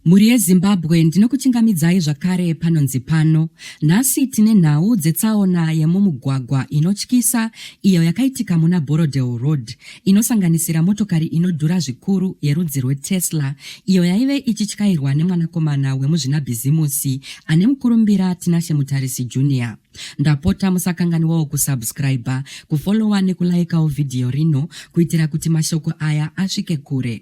Mhuri yeZimbabwe ndinokuchingamidzai zvakare panonzi pano. Nhasi tine nhau dzetsaona yemumugwagwa inotyisa iyo yakaitika muna Borrowdale Road inosanganisira motokari inodhura zvikuru yerudzi rweTesla iyo yaive ichityairwa nemwanakomana wemuzvinabhizimusi ane mukurumbira Tinashe Mutarisi Junior. Ndapota musakanganiwawo kusubscriber, kufollowa nekulaikawo vhidhiyo rino kuitira kuti mashoko aya asvike kure.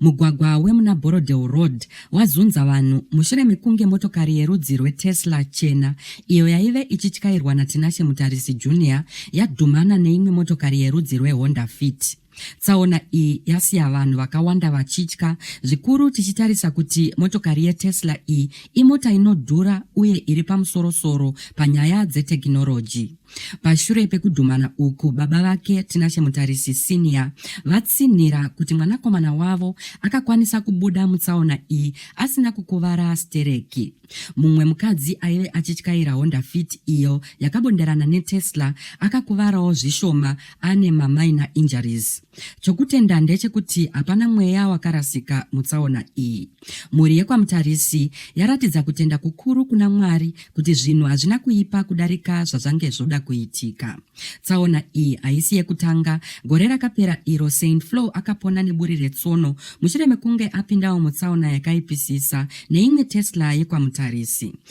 Mugwagwa wemuna Borrowdale Road wazunza vanhu mushure mekunge motokari yerudzi rweTesla chena iyo yaive ichityairwa naTinashe Mutarisi Junior yadhumana neimwe motokari yerudzi rweHonda Fit. Tsaona iyi yasiya vanhu vakawanda vachitya zvikuru tichitarisa kuti motokari yeTesla iyi imota inodhura uye iri pamusorosoro panyaya dzetekinoroji. Pashure pekudhumana uku, baba vake Tinashe Mutarisi Senior vatsinhira kuti mwanakomana wavo akakwanisa kubuda mutsaona iyi asina kukuvara stereki. Mumwe mukadzi aive achityaira Honda Fit iyo yakabonderana neTesla akakuvarawo zvishoma ane mamaina injuries. Chokutenda ndechekuti hapana mweya wakarasika mutsaona iyi. Mhuri yekwaMutarisi yaratidza kutenda kukuru kuna Mwari kuti zvinhu hazvina kuipa kudarika zvazvange zvoda kuitika. Tsaona iyi haisi yekutanga. Gore rakapera iro Saint Flo akapona neburi retsono mushure mekunge apindawo mutsaona yakaipisisa neimwe Tesla yekwaMutarisi.